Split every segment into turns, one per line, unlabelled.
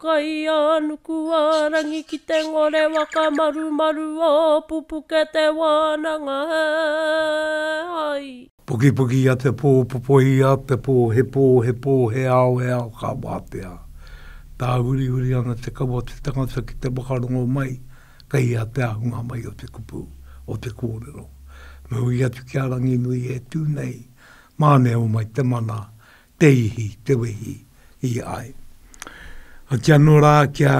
Kaianukuarangi ki te ngore whakamarumaru o pupuke te wānanga he hai. Pukipuki ia te pō
popohi ia te pō he pō he pō he ao he ao ka wātea tāhurihuri ana te kawa o te tangata ki te whakarongo mai kei ia te ahunga mai o te kupu o te kōrero me hui atu ki a Ranginui e tū nei mā neho mai te mana Te ihi, te wehi, i ai. Hoki anō rā kia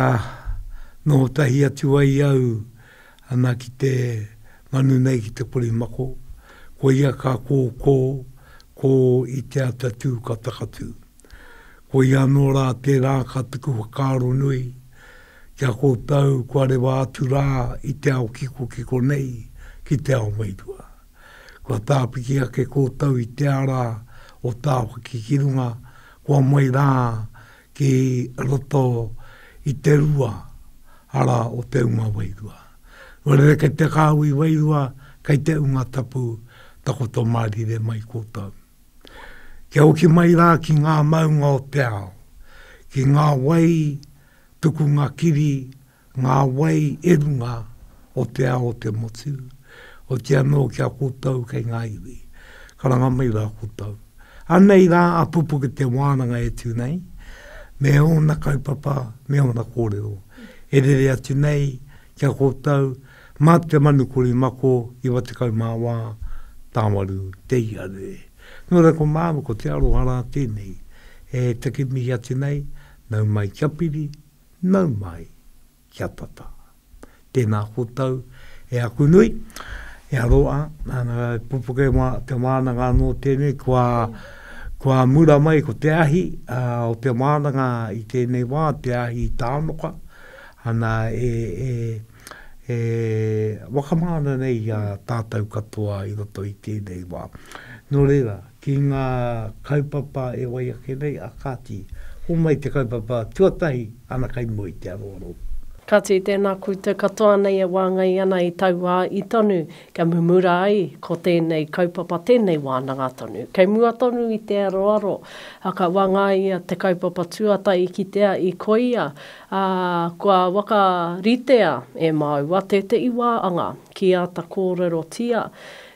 noho tahi atu ai au ana ki te manu nei ki te korimako, koia ka kōkō, kō i te ata tū ka takatū. Koia anō rā tērā ka tuku whakaaro nui ki a kōtau kua rewa atu rā i te ao kikokiko nei ki te ao wairua. Kua tāpiki ake kōtou i te ara o Tāwhaki ki runga, kua moe rā ki roto i te rua ara o te unga wairua. Kua rere kei te kāhui wairua, kei te unga tapu, takoto mārire mai kōtou. Kia hoki mai rā ki ngā maunga o te ao, ki ngā wai tukunga kiri ngā wai e runga o te ao o te motu, oti anō ki a koutou kei ngā iwi. Karanga mai rā koutou. Anei rā a Pupuke te wānanga e tū nei, me ōna kaupapa, me ōna kōrero, e rere atu nei ki a koutou mā te manu kori mako 94 tāwaru te iarere. Nō reira ko māua ko te aroha rā tēnei e take mihi atu nei, nau mai kia piri, Nau mai, kia tata. Tēnā koutou, e aku nui, e aroa, nana ka pupuke ma, te wānanga anō tēnei, kua, kua mura mai ko te ahi a, o te wānanga i tēnei wā, te ahi i Tānoka, ana e, e, e wakamāna nei i a tātou katoa i roto i tēnei wā. Nō reira, ki ngā kaupapa e wai ake nei, ā kāti, homai te kaupapa tuatahi ana kai mua i te aroaro. Kāti, tēnā
koutou katoa nei e wāngai ana i tauā i tonu, kia mumura ai ko tēnei kaupapa tēnei wānanga tonu. Kei mua tonu i te aroaro, ā, ka wāngaia te kaupapa tuatahi i kitea i koia, ā, kua whakaritea e māua tētehi wā anga ki āta kōrerotia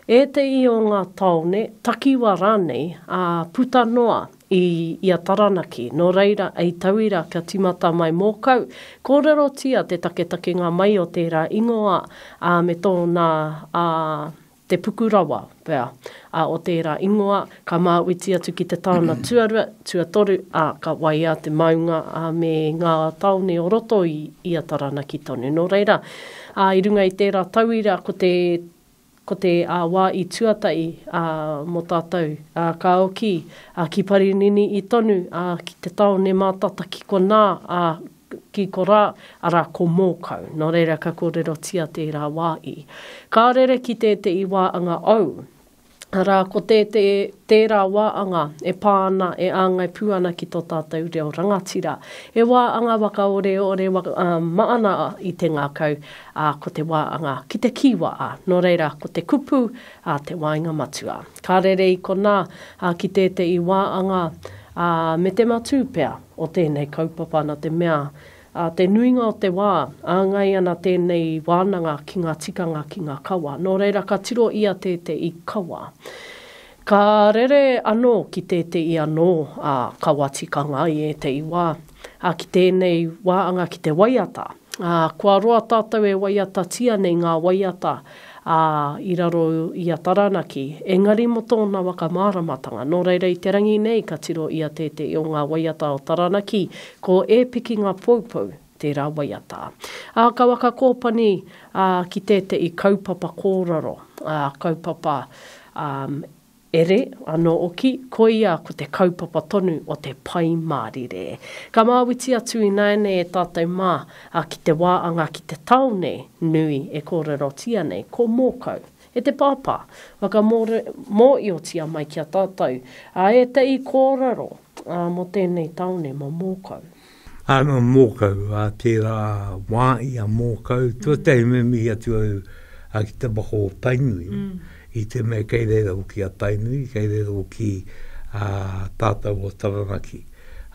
Ētehi o ngā tāone, takiwā rānei, ā, puta noa i ia Taranaki, nō reira, hei tauira kia tīmata mai mōkau, kōrerotia te taketakenga mai o tērā ingoa, ā, me tōna, ā, te puku rawa, pea, ā, o tērā ingoa, ka māuiti atu ki te taona tuarua, tuatoru, ā, ka waia te maunga, ā, me ngā tāone o roto i ia Taranaki tonu. Nō reira, ā, i runga i tērā tauira ko te Ko te wā i tuatahi mō tātou, ka oki ki Parinini i tonu, ki te tāone mātata ki konā, ki korā, arā, ko Mōkau. Nō reira, ka kōrerotia tērā wā i. Ka rere ki tētehi wā anga ou, arā, ko tērā wā anga e pā ana, e āngai pū ana ki tō tātou reo rangatira. He wā anga waka oreore maana i te ngākau, Ā, ko te wā anga ki te kī wā, ā, nō reira, ko te kupu, ā, te wāinga matua. Ka rere i konā, ā, ki tētehi wā anga, ā, me te matū pea o tēnei kaupapa nā te mea, ā, te nuinga o te wā, āngai ana tēnei wānanga ki ngā tikanga ki ngā kawa. Nō reira, ka tiro ia tētehi kawa. Ka rere anō ki tētehi anō, ā, kawa tikanga i ētehi wā, ā, ki tēnei wā anga ki te waiata. Ā, kua roa tātou e waiatatia nei ngā waiata, ā, i raro i a Taranaki, engari mō tōna whakamāramatanga. Nō reira, i te rangi nei ka tiro ia tētehi o ngā waiata o Taranaki, ko E piki ngā poupou, tērā waiata. Ā, ka whakakōpani, ā, ki tētehi kaupapa kōrero, ā, kaupapa, ā, Ere, anō oki, koia ko te kaupapa tonu o te Pai Mārire. Ka māwiti atu ināianei e tātou mā, a ki te wā anga ki te tāone nui e kōrerotia nei, ko Mōkau. E te Pāpā, whakamōre, mōiotia mai ki a tātou, ā, ētahi kōrero, ā, mō tēnei tāone, mō Mōkau. Ana
mōkau, ā tērā wā i a mōkau, tuatahi me mihi atu au ki te waka o Tainui, i te mea kei reira hoki a Tainui, kei reira hoki a tātou o Taranaki.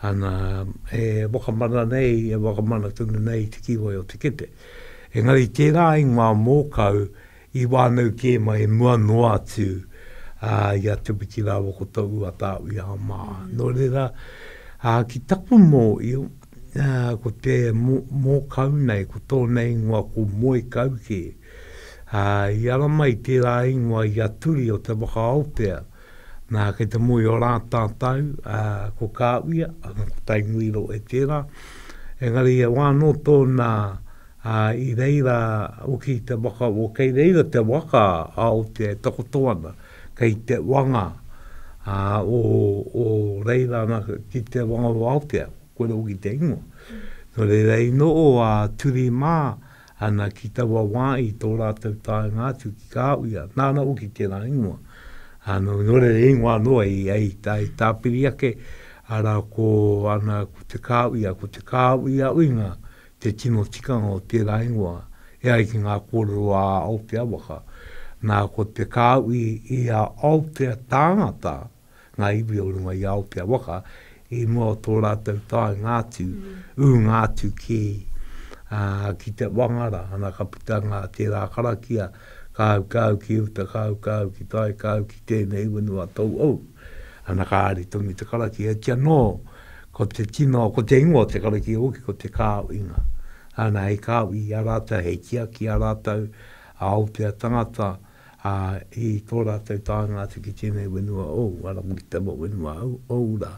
Ana, e wakamana nei, e wakamana tonu nei i te kīwai o Te Kepe. Engari tērā i ngā mōkau, I wānau kē mai mua noa atu i a Te Witi rāua ko tō Ruatāwia mā. Nō reira, ki taku mōio, ko te mōkau nei, ko tōna ingoa ko Moekaukē. I ara mai tērā ingoa i a Turi o Te Waka-aotea, nā, kei te moe i ō Rātātau, ko Kāwia, ko Tainui Rohe tērā. Engari, e wā anō tōna Ā, i reira hoki te waka, o kei reira te waka a Aotea e takoto ana, kei te wanga ā, o, o reira ana ki te wanga o Aotea, kore hoki te ingoa. Nō reira, i noho a Turi mā ana ki taua wā i tō rātou taenga atu ki Kāwhia, nāna hoki tērā ingoa. Ā, nō, nō reira, he ingoa anō i, i, i tāpiri ake, arā, ko ana, ko te Kāwhia, ko te Kāwhiauinga te tino tikanga o tērā ingoa, e ai ki ngā kōrero a Aotea waka, nā, ko te kāu i, i a Aotea tāngata, ngā iwi o runga i Aotea waka, i mua o tō rātou taenga atu, ūnga atu ki, ā, ki te Wangara, ana ka puta ngā tērā karakia, kāu, kāu ki uta, kāu, kāu ki tai, kāu ki tēnei whenua tauhou. Ana ka ari tonu te karakia, e ti anō ko te tino, ko te ingoa o te karakia hoki ko Te Kāuinga. Ana hei kāu i a rātou, hei tiaki i a rātou, a Aotea tangata, ā, i tō rātou taenga atu ki tēnei whenua ou, arā, ki te whenua ou rā.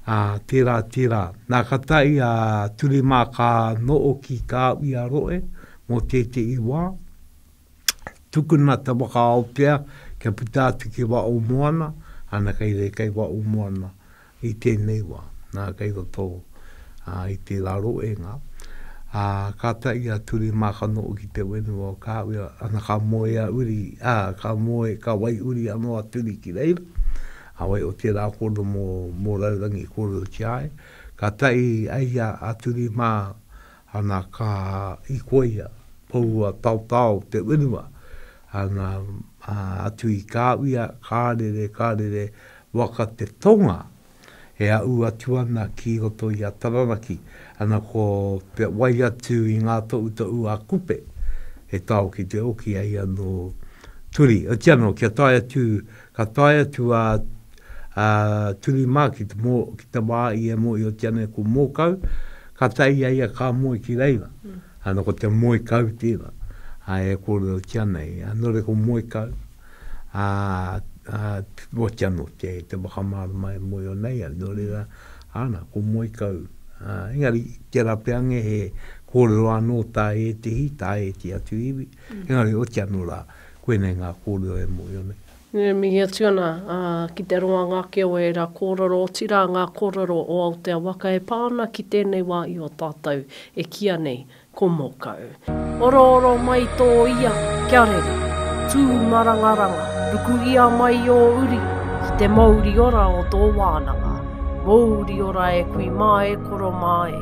Ā, tērā, tērā. Nā, ka tae a Turimā ka noho ki Kāuiaroe mō tētehi wā, tukuna te waka Aotea kia puta atu ki wa o moana, ana kei rei kei wa o moana i tenei wa, na kei roto a, i te ra roenga. A, ka ta i a Ture Makano o ki te wenua o Kawea, ana ka moe a Uri, a, ka moe, ka wai Uri ano a Turi ki reira, a wai o te ra kono mo, mo Raurangi korero ki a ia, ka ta i a ia a Turi ma, Ana ka i koia, poua taotao te wenua, ana atu i ka wia, ka rere, ka rere, waka te tonga e aʻu atu ana ki roto i a Taranaki, ana ko te wai atu i ngā toʻutoʻu a Kupe, he tao ki te oki, eia nō Turi, otiano kia tae atu Ka tae atu a Turi mā ki te wā i e mōhiotia ana e ko Mōkau, kātahi i a ia ka moe ki reira. Ana ko te moe kau tēnā e kōrerotia ana e ia. Nō reira ko moe kau, oati anō te whakamārama e mōhio nei ai. Nō reira, ana, ko moe kau. Engari, tērā pea ange he kōrero anō tā ētehi, tā ētehi atu iwi, engari oati anō rā. Koinei ngā kōrero e mōhio nei. E mihi atu ana
ki te ronganga ake o ērā kōrero, otirā ngā kōrero o Aotea waka e pā ana ki tēnei wā i o tātou e kīa nei ko Mōkau. Orooro mai tō ia, kia rere. Tū marangaranga, ruku ia mai ō uri ki te mouri ora o tō wānanga. Mouri ora e kui mā e koro mā e.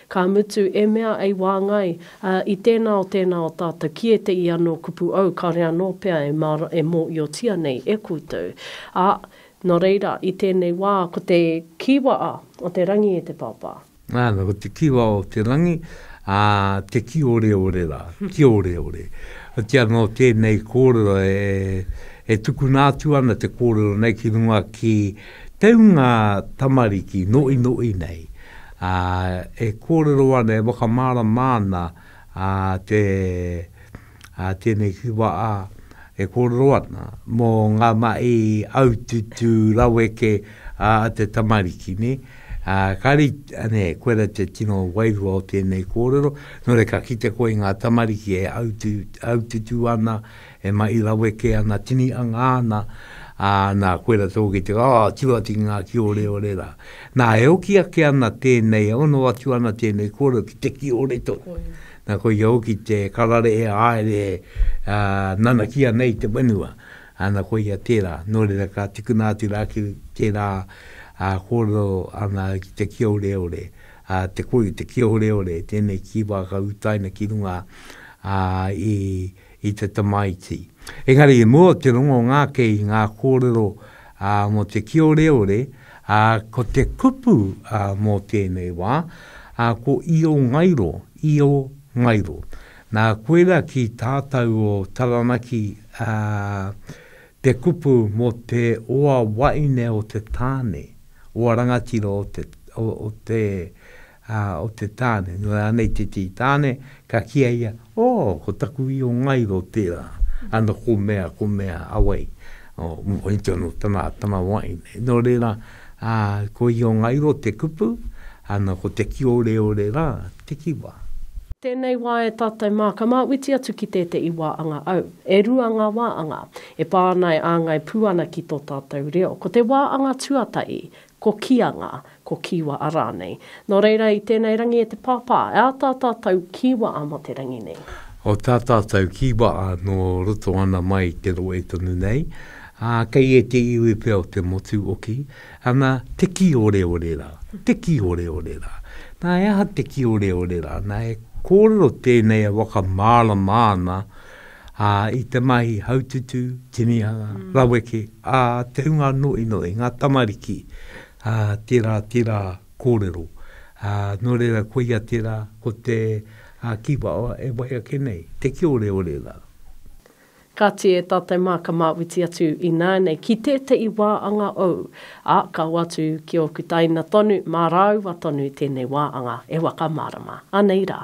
Ka mutu, e mea ei wāngai, ā, i tēnā o tēnā o tātou ki ēteʻi anō kupu ou, kāore anō pea e mā, e mōʻiotia nei e koutou. Ā, nō reira, i tēnei wā, ko te kīwa a, o te rangi e te Pāpā. Nana, ko te kīwa
o te rangi, ā, te kīoreore rā, kīoreore. Otiia nō tēnei kōrero e, e tukuna atu ana te kōrero nei ki runga ki te ūnga tamariki noʻinoʻi nei. ā, e kōrero ana, e whakamārama ana te, ā, tēnei whiwha, ā, e kōrero ana mō ngā mahi aututū raweke a te tamariki, nē. Ā, kāre, nē, koirā te tino wairua o tēnei kōrero, nō reira ka kite koe i ngā tamariki e aututū ana, E mahi lawe kē ana, tini anga ana, ā, nā, koe rā te ō ki te, ā, tū atu ki ngā kīoreore rā. Nā, e hoki ake ana tēnei, e ono atu ana tēnei kōrero ki te kīore tonu. Nā, koia hoki te karare e haere e, ā, nanakia nei te whenua. Ana, koia tērā. Nō reira, ka tukuna atu rā ki tērā, ā, kōrero ana ki te kīoreore, ā, te koi, te kīoreore, tēnei kīwā ka utaina ki runga, ā, i. i te tamaiti. Engari i mua o te rongo ngake i ngā kōrero mō te kioreore, ko te kupu mō tēnei wā, ko Io Ngairo, Io Ngairo. Nā, koirā ki tātau o Taranaki te kupu mō te oa waine o te tāne, oa rangatira o te Ā, o te tāne, nō rānei te tī tāne, ka kīa ia, Ō, ko taku io ngairo tērā, ana ko mea, ko mea, awai, ō, mohoi tonu tana, tana wahine. Nō reira, ā, ko io ngairo te kupu, ana ko te kīoreore rā te kiwa. Tēnei wā
e tātou mā, ka māuiti atu ki tēteʻi wā anga au. E rua ngā wā anga, e pā ana e āngai pū ana ki tō tātou reo. Ko te wā anga tuataʻi, Ko Kianga, ko Kiwa a rānei. Nō reira, i tēnei rangi e te Pāpā, e ā tā tātou Kiwa a mō te rangi nei. O tā tātou
Kiwa a nō roto ana mai i te rohe tonu nei, ā, kei ēte iwi pea o te motu oki, ana, te kīoreore rā, te kīoreore rā. Nā, he aha te kīoreore rā? Nā, e kōrero tēnei e whakamārama ana Ā, i te mahi haututu, tinihanga, raweke, ā, te hunga noʻinoʻi, ngā tamariki, ā, tērā, tērā kōrero. Ā, nō reira, koia tērā, ko te, ā, kīwawa e wai ake nei, te kīoreore rā.
Kāti e tātou mā ka māwiti atu ināianei ki tēteʻi wā anga ou, ā, ka hoatu ki ōku taina tonu, mā rāua tonu tēnei wā anga e whakamārama. Anei rā.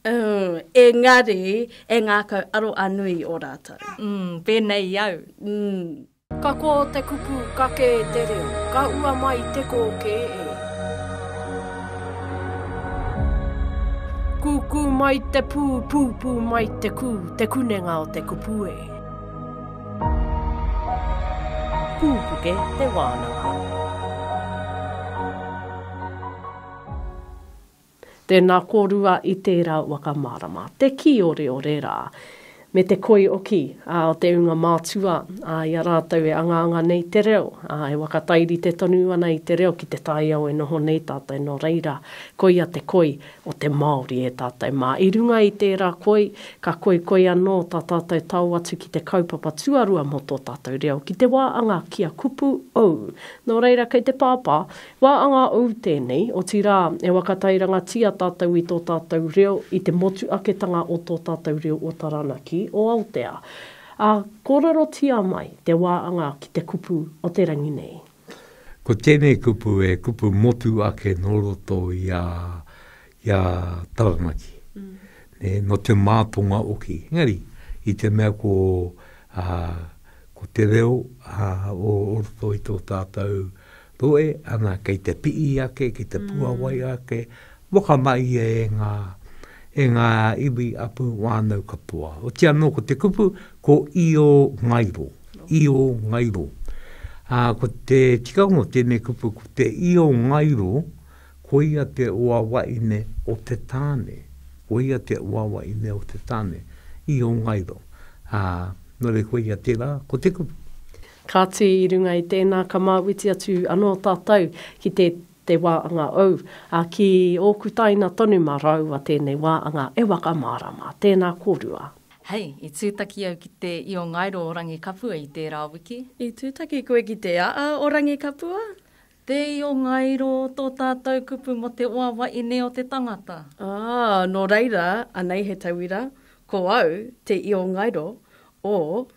Umm, engari,
e ngākau aro a nui i o rātou. Umm, pēnei i
au. Umm. Ka
kō te kupu ka kē te reo, ka ua mai te kō kē e. Kūkū mai te pū, pūpū mai te kū, te kunenga o te kupu e. Pūpuke te wānanga. Tēnā kōrua i tērā waka mārama, te kīoreore rā, me te koi oki o te ūnga mātua i a rātou e angaanga nei te reo, e whakatairite tonu ana i te reo ki te taiao e noho nei tātou nō reira, koia te koi o te Māori e tātou mā. I runga i tērā koi, ka koikoi anō tā tātou tao atu ki te kaupapa tuarua mō tō tātou reo, ki te wā anga kia kupu ou. Nō reira, kei te pāpā, Wā anga ou tēnei, otirā, e waka tairangatia tātou i tō tātou reo i te motuaketanga o tō tātou reo o Taranaki, o Aotea. Ā, kōrerotia mai te wā anga ki te kupu o te rangi nei. Ko tēnei
kupu e kupu motu ake nō roto i a, i a Taranaki. Nē, nō te mātonga oki. Engari, i te mea ko, ā, ko te reo, ā, o roto i tō tātou Rohe, ana kei te pii ake, kei te puawai ake, whakamaia e nga, e nga iwi apu whanau katoa. Oti ano ko te kupu, ko Io Ngairo, Io Ngairo. A, ko te tikanga o tenei kupu, ko te Io Ngairo, koia te oawaine o te tane, koia te oawaine o te tane, Io Ngairo. A, no re koia tera, ko te kupu. Kāti,
i runga i tēnā ka māuiti atu anō tātou ki te te wā anga ou, ā, ki ōku taina tonu mā rāua tēnei wā anga e wakamārama. Tēnā kōrua. Hei, i
tūtaki au ki te io ngairo o Rangikapua
i
tērā
wiki. I
tūtaki
koe
ki te
aa
o Rangikapua?
Te
io ngairo tō tātou kupu mō te wawa ine o te tangata. Aa, nō
reira, anei he tauira, ko au te io ngairo o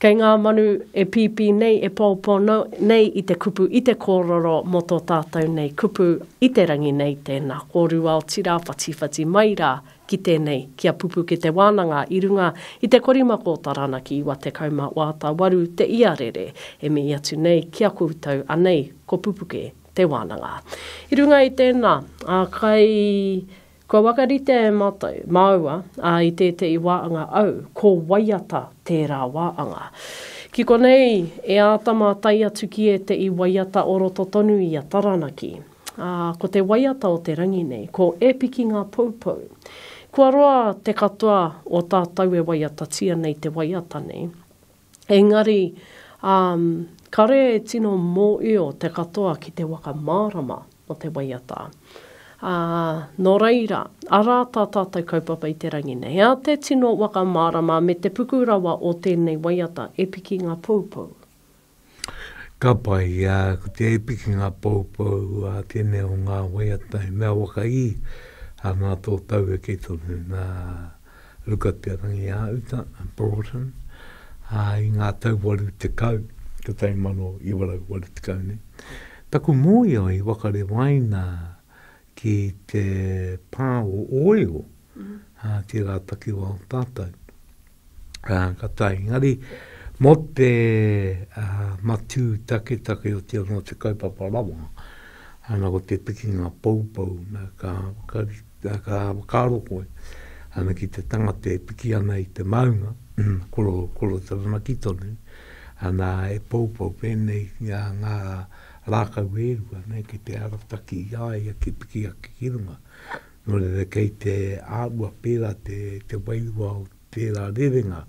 Kei ngā manu e pīpī nei, e pōpō nei i te kupu, i te kōroro mō tō tātou nei kupu i te rangi nei, tēnā, kōrua otirā, whatiwhati mai rā ki tēnei, ki a Pupukete Wānanga i runga i te korimako Taranaki 98 te iarere e mihi atu nei ki a koutou anei ko Pupuke te Wānanga. I runga i tēnā, kai Kua whakaritea e mātou, māua, ā, i tētehi wā anga au, ko waiata tērā wā anga. Ki konei, e āta mātai atu ki ētehi waiata o roto tonu i a Taranaki. Ā, ko te waiata o te rangi nei, ko E Piki Ngā Poupou. Kua roa te katoa o tātou e waiatatia nei te waiata nei. Engari, um, kare e tino mōio te katoa ki te waka mārama o te waiata. Ā, nō reira, arā tā tātou kaupapa i te rangi nei, ā te tino waka mārama me te puku rawa o tēnei waiata e piki ngā poupou.
Ka pai, ā, ko te e piki ngā poupou, ā, tēnei o ngā waiata he mea waka ī, ā, nā tō taueke tonu, nā, Luka Te Rangiāuta, Broughton, ā, i ngā tau 80, 1980 nei, taku mōio i wakarewaina ki te pā o Ōeo, ā, tērā takiwā o tātou. Ā, ka tae, engari, mō te matū taketake o te anō te kaupapa rawa, ana ko te pikinga poupou, nā, ka, ka. Ka, ka whakaaro koe, ana ki te tangata e piki ana i te maunga, koro, koro taranaki tonu, ana e poupou pēnei ngā, ngā rākau e rua, nē, ki te arataki i a ia ki piki ake ki runga. Nō reira, kei te āhua pērā te, te wairua o tērā rerenga,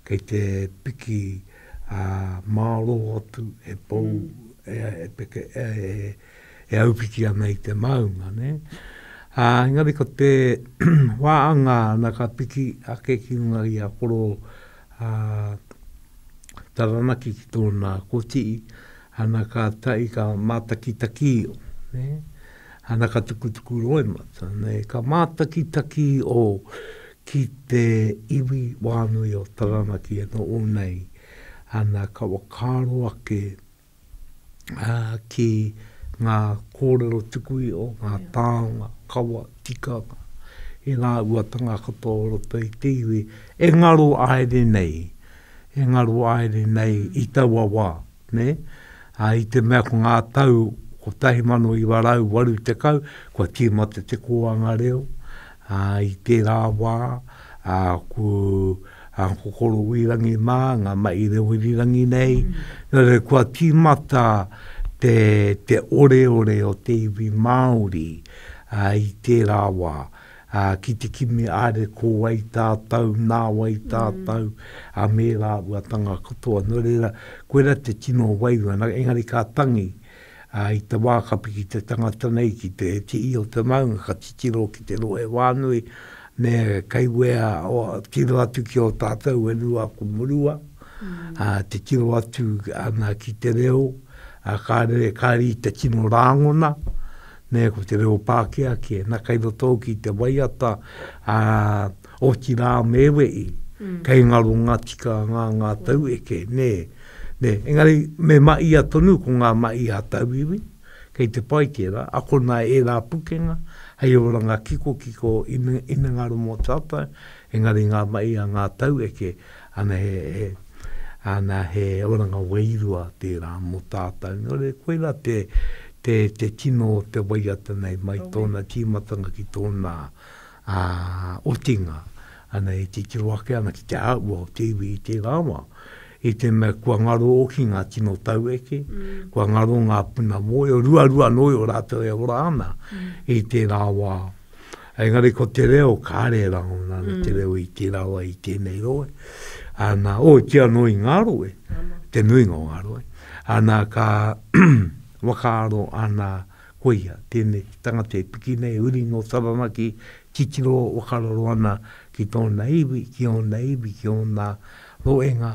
kei te piki, ā, mārō atu e pou, e, e peke, e, e. e aupiti ana i te maunga, ne? Ā, engari ko te wāanga ana ka piki ake ki runga i a Koro ā, Taranaki ki tōna kotii, ana ka tahi ka mātakitaki o, ne? Ana ka tukutuku roimata, ne? Ka mātakitaki o ki te iwi wānui o Taranaki e noho nei, ana ka whakaaro ake, ki ngā kōrero tuku iho, ngā tāonga, kawa, tikanga, i ngā uatanga katoa o roto i te iwi, e ngaro aere nei, e ngaro aere nei i taua wā, nē? Ā, i te mea ko ngā tau 1980, kua tīmata te kōanga reo, Ā, i tērā wā, ā, ko a Kokorowirangi mā, ngā mahi rewirirangi nei, nō reira kua tīmata te, te oreore o te iwi Māori, ā, i tērā wā, ā, ki te kimi are ko wai tātou, nā wai tātou, ā, me rāua tanga katoa. Nō reira, koirā te tino wairua, engari ka tangi, Ā, i te wā ka piki te tangata nei ki te tii o te maunga, ka titiro ki te rohe wānui, me kei wea o, tiro atu ki o tātou e rua aku murua, ā, te tiro atu ana ki te reo, ā, ka rere, ka riri te tino rāngona, nē, ko te reo Pākehā kē. Nā, kei roto au ki te waiata, ā, Otirā me we i, mm. kei ngaro ngā tika ngā ngā tau eke, nē. Nē, engari me ma ia tonu ko ngā ma ia tauiwi, kei te pai tērā, akona e rā pukenga, hei oranga kiko kiko ina, ina ngaro mō tātou, engari ngā ma ia ngā tau eke, ana he, he, ana he oranga wairua tērā mō tātou. Nō re, koira te, te, te tino o te waiata nei, mai tōna tīmatanga ki tōna, a otinga ana e titiro ake ana ki te āhua o te iwi i tērā wā, i te mea kua ngaro hoki ngā tino taueke, mm. kua ngaro ngā puna mōio, ruarua anō i o rātou e ora ana mm. i tērā wā. Engari ko te reo, ka are rā ona mm. te reo i tērā wā i tēnei roe. Ana, o, ki anō i ngā roe, te nuinga o ngā roe. Ana, ka wakaaro ana Koia, tēnei te tangata e piki nei, uri nō Taranaki, titiro whakararo ana ki tōna iwi, ki ōna iwi, ki ōna roenga,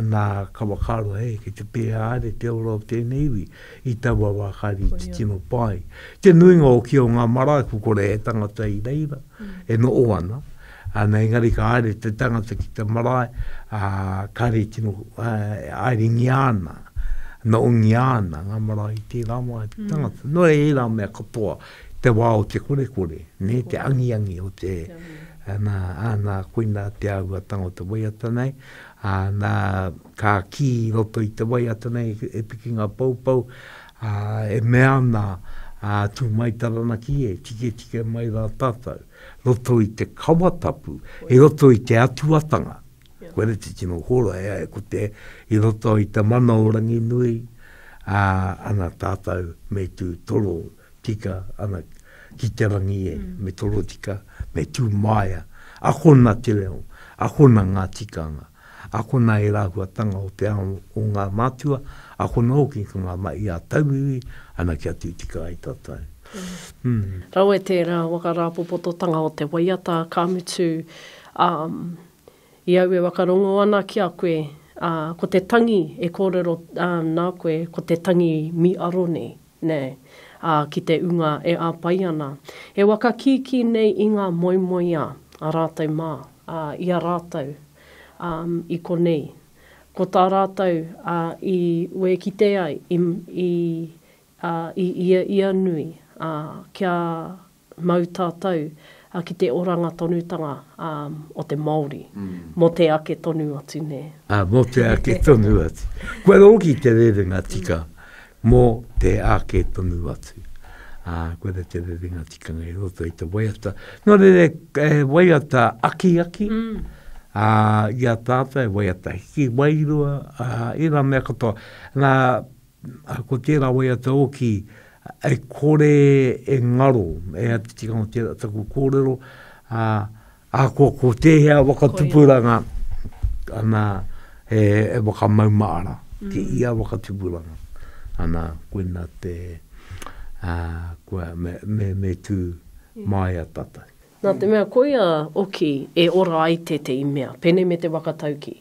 nā, ka whakaaro, hē, kei te pēhea haere te ora o tēnei iwi i taua wā kāre i titiro pā ai. Te nuinga o kia o ngā marae, ko kore he tangata i reira, e noho ana, Ana engari ka haere te tangata ki te marae, a, kare i tino, a, airingia ana, noongia ana nga marae i tera wa e te mm. tangata. Mm. No e era mea katoa, te wa o te kore kore, ne, te angi angi o te, ana, ana, koina te au a tango te waiata nei, ana, ka ki roto i te waiata nei e piki nga pau pau, a, e mea ana, a, tu mai taranaki e, tike tike mai ra tatou. roto i te kawa tapu, i roto i te atuatanga, koe ra te tino hora ea e ko te, i roto i te mana o Ranginui, a, ana tatou me tu toro tika, ana, ki te rangi e, mm. me toro tika, me tu maia, akona te reo, akona nga tikanga, Akona e rāhuatanga o te ao o ngā mātua, akona hoki ka ngama i a tauiwi ana kia tītika ai tātou.
Rawe tērā waka rāpopototanga o te waiata, ka mutu, ā, i au e whakarongo ana ki a koe, ā, ko te tangi e kōrero nā koe, ko te tangi mīaro nei. Nei, ā, ki te ūnga e āpai ana. E waka kīkī nei i ngā moemoeā a rātou mā, ā, i a rātou, ā, i konei. Ko tā rātou, ā, i wēkite ai, i, i, ā, i ia ia nui, ā, kia mau tātou ki te oranga tonutanga o te Māori mō te ake tonu atu, nē? Ā, mō te ake
tonu atu. Kua rōki te rerenga tika mō te ake tonu atu. Ā, koira te rerenga tikanga i roto i te waiata. Nō reira, e waiata akiaki, ā, i a tātou e waiata hiki wairua, ā, ērā mea katoa. Nā, Ko tērā waiata oki e kore e ngaro, e a te tikanga o tērā taku kōrero, ā, ahakoa ko tēhea waka tupuranga, ana, e whakamaumaara ki ia waka tupuranga. Ana, koina te, ā, kua, me, me, me tū māia tātou. Nā te mea koia
oki e ora ai tētehi mea, pēnei me te waka tauki.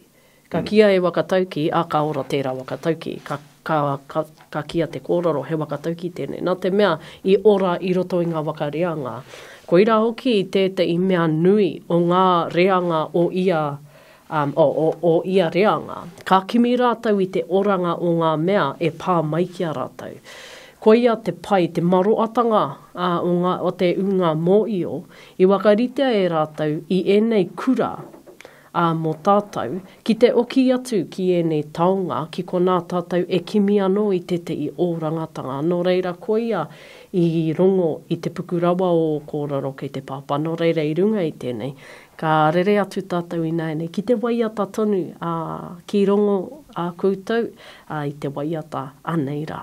Ka kīa e Wakatauki, ā, ka ora tērā Wakatauki. Ka, ka, ka, ka kīa te kōrero, he Wakatauki tēnei. Nā te mea, i ora i roto i ngā waka reanga. Koirā hoki tētahi mea nui o ngā reanga o ia, um, o, o, o ia reanga. Ka kimi rātou i te oranga o ngā mea e pā mai ki a rātou. Koia te pai, te maroatanga, ā, o ngā, o te ūnga mōio, i wakaritea e rātou i ēnei kura, Ā, mō tātou, ki te oki atu ki ēnei taonga, ki konā tātou e kimi anō i tētehi ōrangatanga, nō reira koia i rongo i te puku rawa o ō kōrero kei te pāpā, nō reira i runga i tēnei, ka rere atu tātou ināianei ki te waiata tonu, ā, ki rongo ā koutou, ā, i te waiata anei rā.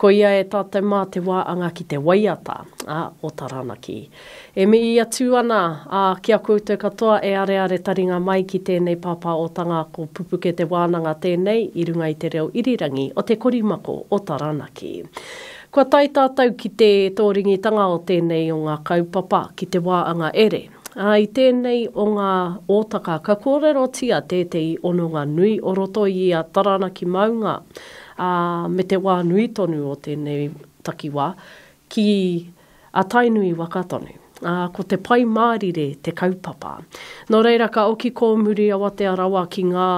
Ko ia e tātou mā te wā anga ki te waiata, ā, o Taranaki. E mihi atu ana, ā, ki a koutou katoa e areare taringa mai ki tēnei pāpā otanga ko Pupuke Te Wānanga tēnei i runga i te reo irirangi o te korimako o Taranaki. Kua tae tātou ki te tōringitanga o tēnei o ngā kaupapa ki te wā anga ere, ā, i tēnei o ngā ōtaka ka kōrerotia tētehi ononga nui o roto i ia Taranaki maunga, ā, me te wā nui tonu o tēnei takiwā ki a Tainui waka tonu, ā, ko te Pai Mārire te kaupapa. Nō reira ka oki kōmuri awatea rawa ki ngā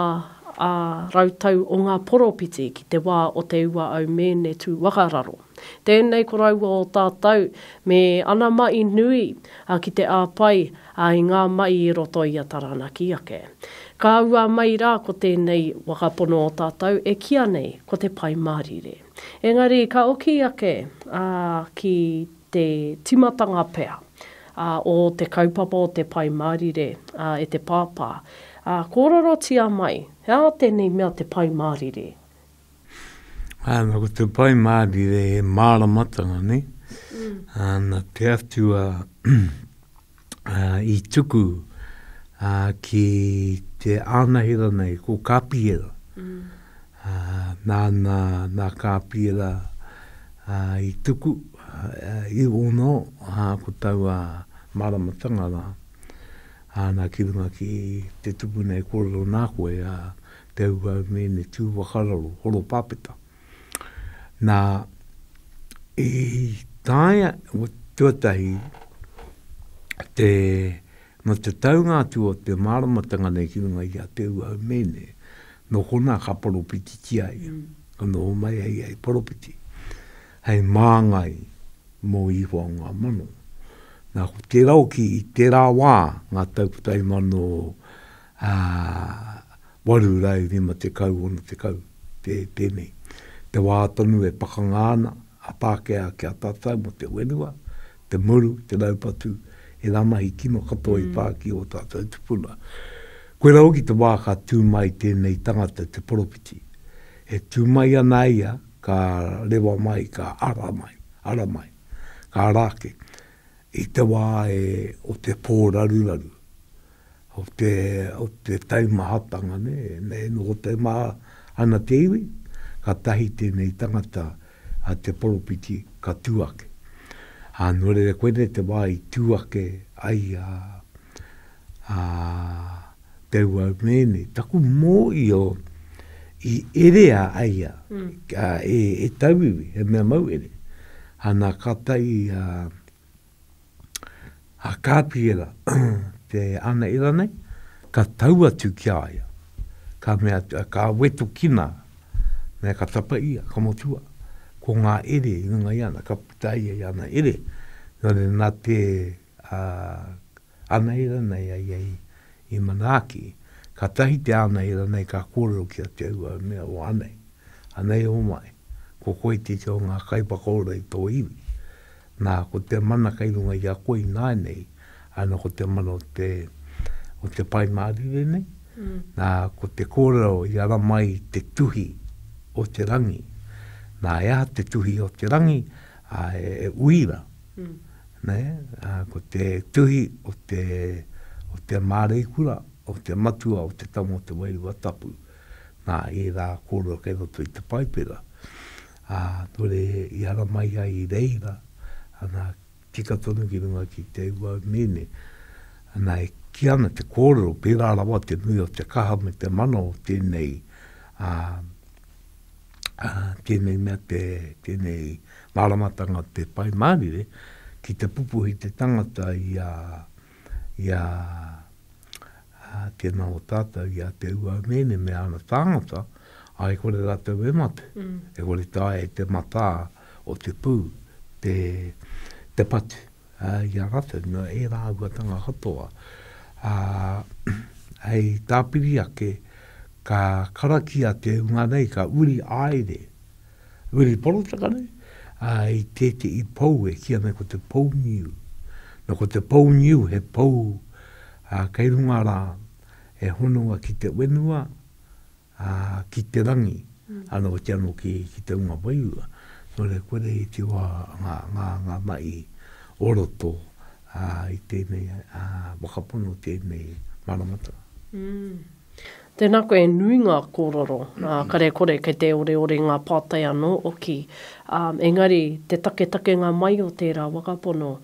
ā rautau o ngā poropiti ki te wā o Te Ua Au Mēne Tūwakararo. Tēnei ko raua o tātou, me ana maʻi nui, a ki te āpai, a i ngā maʻi i roto i a Taranaki ake. Ka ua mai rā ko tēnei waka pono o tātou e kīa nei ko Te Pai Mārire. Engari ka oki ake, a, ki te timatanga pea, a, o te kaupapa o Te Pai Mārire, a, e te pāpā, a, kōrerotia mai, he aha tēnei mea Te Pai Mārire?
Ana, ko te pai māri re he māramatanga, ne? Mm. Ana, te atua a, i tuku a, ki te ānahera nei, ko Kāpihera. Mm. A, nāna, nā Kāpihera a, i tuku, a, i ono, a, ko taua māramatanga rā. Ana, ki runga ki te tuku nei, kōrero nā koe, a, te auau mēne tū whakararo, horopapeta. Nā, i taea, tuatahi, te, nō te taunga atu o te māramatanga nei ki runga i a te auau mēne, nō konā ka poropititia ia, ka noho mai ai ia hei poropiti, hei māngai mō Ihoa o ngā mano. Nā, ko tērā hoki, i tērā wā, ngā tau 1900, ā, 850 ōna tekau, tē, tēnei. Te wā tonu e pakanga ana a Pākehā ki a tātou mō te whenua, te muru, te raupatu, e ngā mahi kino katoa i pā ki ō tātou tupuna. Koirā hoki te wā ka tū mai tēnei tangata, te Poropiti. E tū mai ana a ia, ka rewa mai, ka ara mai, ara mai, ka ara ake, i te wā e, o te pōraruraru. o te, o te taimahatanga, nē, me noho taimaha ana te iwi, katahi tēnei tangata a te poropiti ka tū ake. Ā, nō reira koinei te wā i tū ake ai a, a Te Uaumēne, taku mōio i erea ai a, a e, e tauiwi, he mea mauhere. Ana, kātahi a, a Kāpiera te anaera nei, ka tau atu ki a ia, ka mea, ka wetokina, mea ka tapa ia, ka motua, ko ngā ere i runga i ana, ka puta ia i ana ere, nō reira nā te, Anei ranei a ia i manaaki, katahi te anei ranei ka korero ki a Te Aua e mea o anei, anei omae, ko koe teke o nga kaiwhakaora i to iwi, na ko te mana kei runga i a koe inainei, ana ko te mana o te o te Pai Marire nei, na ko te korero i ara mai te tuhi o te rangi, na e aha te tuhi o te rangi, a e uira ko te tuhi o te, o te māreikura, o te matua, o te tama o te Wairua Tapu, nā, ērā kōrero kei roto i te Paipera. Ā, nō reira, i ara mai ai i reira, ana, tika tonu ki runga ki te ūau mīne, ana, e kī ana te kōrero, pērā rawa te nui o te kaha me te mana o tēnei, ā, tēnei mea te, tēnei māramatanga o te Pai Mārire, ki te pupuhi te tangata i a, i a, a tēnā o tātou, i a Te Uaumēne me ana tāngata, a e kore rātou e mate, mm. e kore tāia e te matā o te pū, te, te patu. i a ratou, no e rāuatanga katoa, a, hei tāpiri ake, ka karakia te hunga nei, ka uri aere, uri porotaka nei, a, i tētehi pou e kīa nei ko te pou niu. No ko te pou niu he pou, a, kei runga rā, e honoa ki te wenua, ā, ki te rangi, anō hoki anō ki, ki te hunga wairua, kore, kore i te wā ngā, ngā, ngā mahi o roto, ā, i tēnei, ā, whakapono tēnei maramataka.
Tēnā koe e nui ngā kōrero, ā, kare, kore, kei te oreore ngā pātai anō hoki, ā, engari te taketakenga mai o tērā whakapono,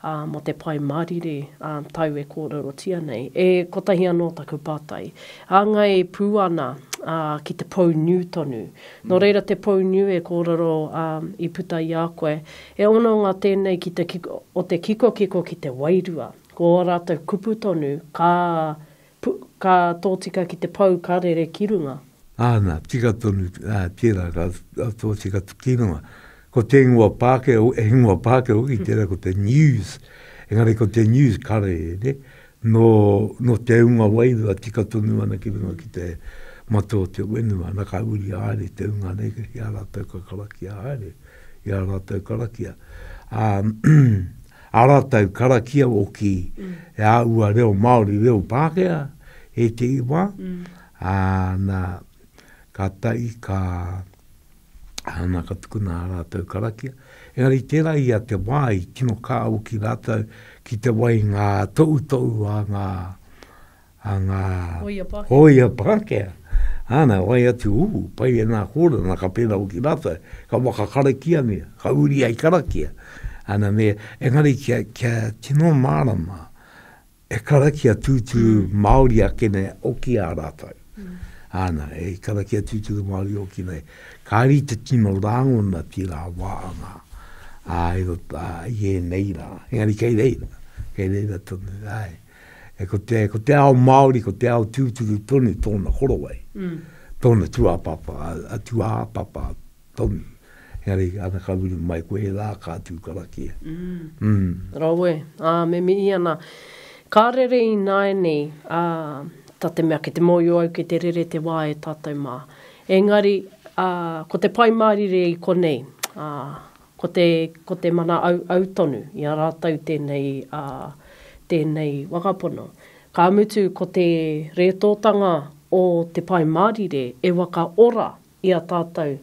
ā, mō te Pai Mārire, ā, tau e kōrerotia nei, e kotahi anō taku pātai. Hāngai pū ana, ā, ki te pou niu tonu. Nō reira te pou niu e kōrero, ā, i puta i a koe, he hononga tēnei ki te kiko, o te kikokiko ki te wairua. Ko ō rātou kupu tonu, ka Pu, Ka tōtika ki te pou ka rere ki runga. Āna, tika
tonu, ā, tērā ka tōtika ki runga. Ko te ingoa Pākehā, he ingoa Pākehā hoki tērā ko te News, engari ko te News ka rere nō, nō te unga wairua tika tonu ana ki runga ki te mata o te whenua, ana ka uri haere te unga nei ki a rātou ka karakia haere, i a rātou karakia. Ā, a ratou karakia hoki e aua reo Maori, reo Pakea, etei wa, a na, ka tai, ka, ana ka tukuna a ratou karakia. Engari tera i a te wa i tino ka hoki ratou ki te wai nga toutou a nga, a ngā hōia Pākehā, āna wai atu uhu, pai e ngā kōrana, ka pērā hoki rātou, ka waka karakiangia, ka uri ai karakia, āna me, engari kia, kia tino mārama, e karakia tūturu Māori ake nei oki a rātou. Āna, e karakia tūturu Māori oki nei, kāri te tino rāngona tērā wā a ngā, ā, i roto, ā, i ēnei rā, engari kei reira, kei reira tonu, āe. E ko te, ko te ao Māori, ko te ao tūturu tonu tōna korowai, mm. tōna tuāpapa, a, a tuāpapa tonu. Engari, ana ka uru mai koe, he lā ka tū karakia. Mm. Mm.
Rawe, ā, me mihi ana. Ka rere i nāianei, ā, tā te mea ki te mōio au ki te rere te wā e tātou mā. Engari, ā, ko te Pai Mārire i konei, ā, Ko te, ko te mana auau tonu i a rātou tēnei, ā, tēnei wakapono. Ka mutu ko te rētōtanga o te Pai Mārire e waka ora i a tātou,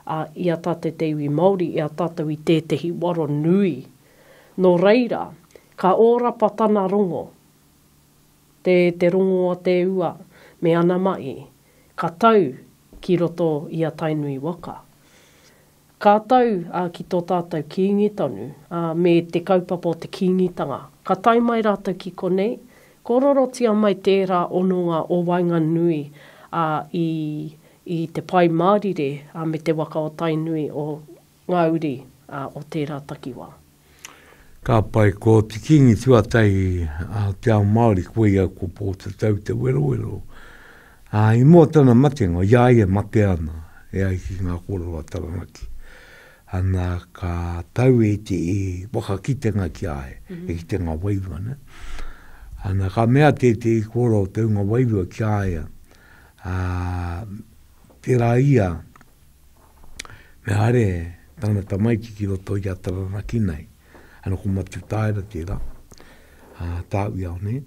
ā, i a tātou te iwi Māori, i a tātou i tētehi waro nui. Nō reira, ka ōrapa tana rongo, te, te rongo a te ua me ana mahi, ka tau ki roto i a Tainui waka. Ka tau ki tō tātou Kīngi tonu, me te kaupapa o te Kīngitanga. Ka tae mai rātou ki konei, kōrorotia mai tērā hononga o waenganui i te Pai Mārire me te waka o Tainui o ngā uri o tērā takiwā. Ka
pai, ko te kingi tuatai a te ao Māori, ko ia ko Pōtatau Te Werowero. Ā, i mua tana matenga, i a ia e mate ana, e ai ki ngā kōrero a Taranaki, ana, ka tau e te i whakakitenga ki a ia, e ki te nga wairua, nē. Ana, ka mea tētehi kōrero o te unga wairua ki a ia, ā, tērā ia, Me haere tana tamaiti ki roto i a Taranaki nei. Ano ko Matutaera tera, a Tauiao nei.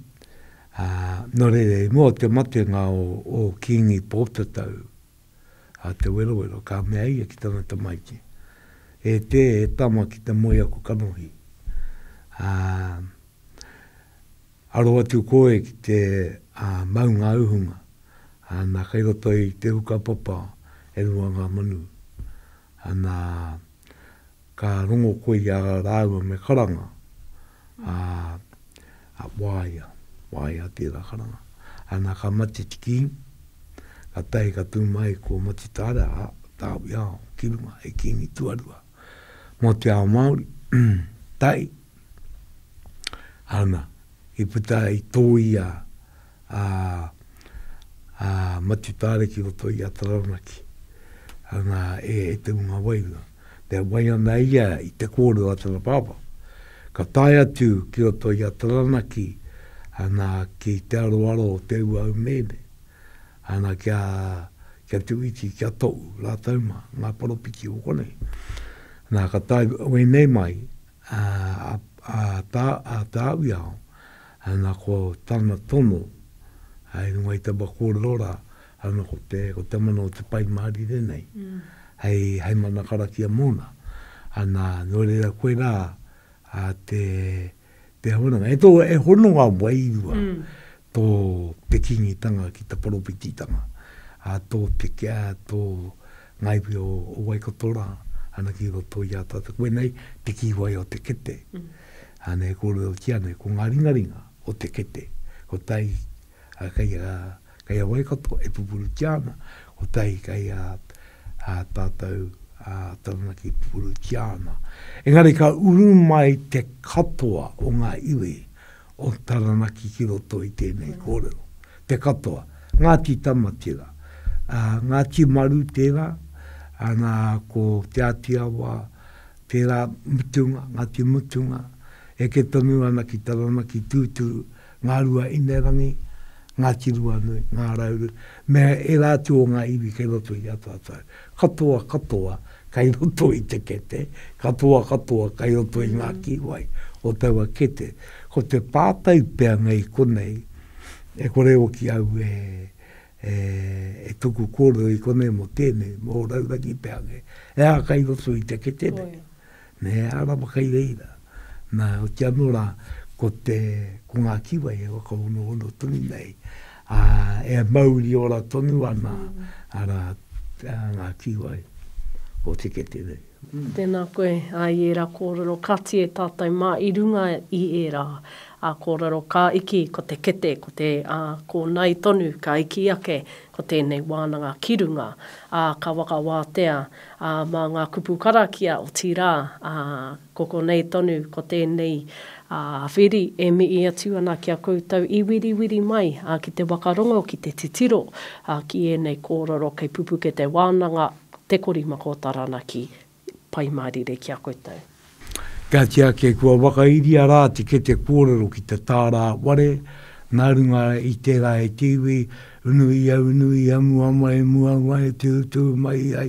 A, no reira i mua o te matenga o, o Kingi Potatau, a Te Werowero, ka mea ia ki tana tamaiti, E te, e tama ki te moe aku kanohi. A, Aro atu koe ki te maunga uhunga, ana, kei roto i te uka papa e rua ngā manu, ana, ka rongo koe i a rāua me karanga, ā, waea, waea tērā karanga, ana, ka mate tiki, ka tae ka tū mai ko Matitareha, Tāwiao, ki runga, he kīngi tuarua. mō te ao Māori, tae ana i puta i tōia a a Matutaare ki roto i a Taranaki ana e Te Unga Wairua. Te wai ana ia i te kōrero a tana pāpā, ka tae atu ki roto i a Taranaki ana ki te aroaro o te ua au meme, Ana kia, kia tuwiti, kia tou, ratou ma, nga poropiti o konei. Na, ka tae wenei mai, a, a, a, ta, a Tawiao, ana ko tana tono, i runga i taba korero ra, ana ko te, ko te mana o te Pai Marire nei, hei, hei mana karakia mona. Ana, no reira koe ra, a te, Te Awananga. E tō, e hono ngā wairua tō te kingitanga ki te poropititanga, a tō te, a tō ngā iwi o, o Waikato rā, ana ki roto i a tātou. Koe nei, te kīwai o te kete. Mm. Ānei e kōrerotia nei, ko ngā ringaringa o te kete. Ko tai, a, kei a, Kei a Waikato e pupurutia ana, kotahi kei a tātou a Taranaki e pupurutia ana. Engari ka uru mai te katoa o ngā iwi o Taranaki ki roto i tēnei kōrero. Te katoa. Ngāti Tamatira. Ngāti Maru tērā, ana ko Te Ātiawa tērā, Mutunga, Ngāti Mutunga, eke tonu ana ki Taranaki tūturu, Ngārua Inerangi, Ngāti Ruanui, Ngā Rauru, me ērā atu o ngā iwi kei roto i a tātou. Katoa katoa kei roto i te kete, katoa katoa kei roto i ngā kīwai o taua kete. Ko te pātai pea nei konei, e kore hoki au e, e, e tuku kōrero i konei mō tēnei, mō Raurangi pea kē, e aha kei roto i te kete nei? Me he ara ma kai reira. Na, hoki ano ra, ko te, ko nga kiwai e whakahonohono tonu nei, a, e mauri ora tonu ana, ara, nga kiwai o te kete nei. Tēnā koe,
ā, i ērā kōrero ka tie tātou mā i runga i ērā, ā, kōrero ka iki ko te kete, ko te, ā, kōnae tonu ka iki ake ko tēnei wānanga ki runga, ā, ka whakawātea, Ā, mā ngā kupu karakia, otirā, ā, ko konei tonu, ko tēnei, ā, whiri e mihi atu ana ki a koutou i wiriwiri mai, ā, ki te wakarongo, ki te titiro, ā, ki ēnei kōrero kei pupuke te wānanga, te korimako taranaki, Pai Mārire ki a koutou. Ka
tiaki kua whakairia rā te kete kōrero ki te tāra ware, nā runga i tērā e te iwi, unu ia, unu ia, mua mai, mua mai, tūtū mai ai,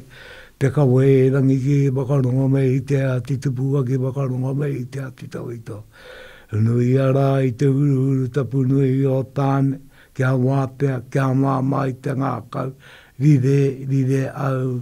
peka wē rangi kē, whakarongo me i te ā, te tupuaki, whakarongo me i te ā, te tawhito. Unu ia rā i te huruhuru tapu nui o Tāne, kia wātea, kia māmā i te ngākau, rire, rire au,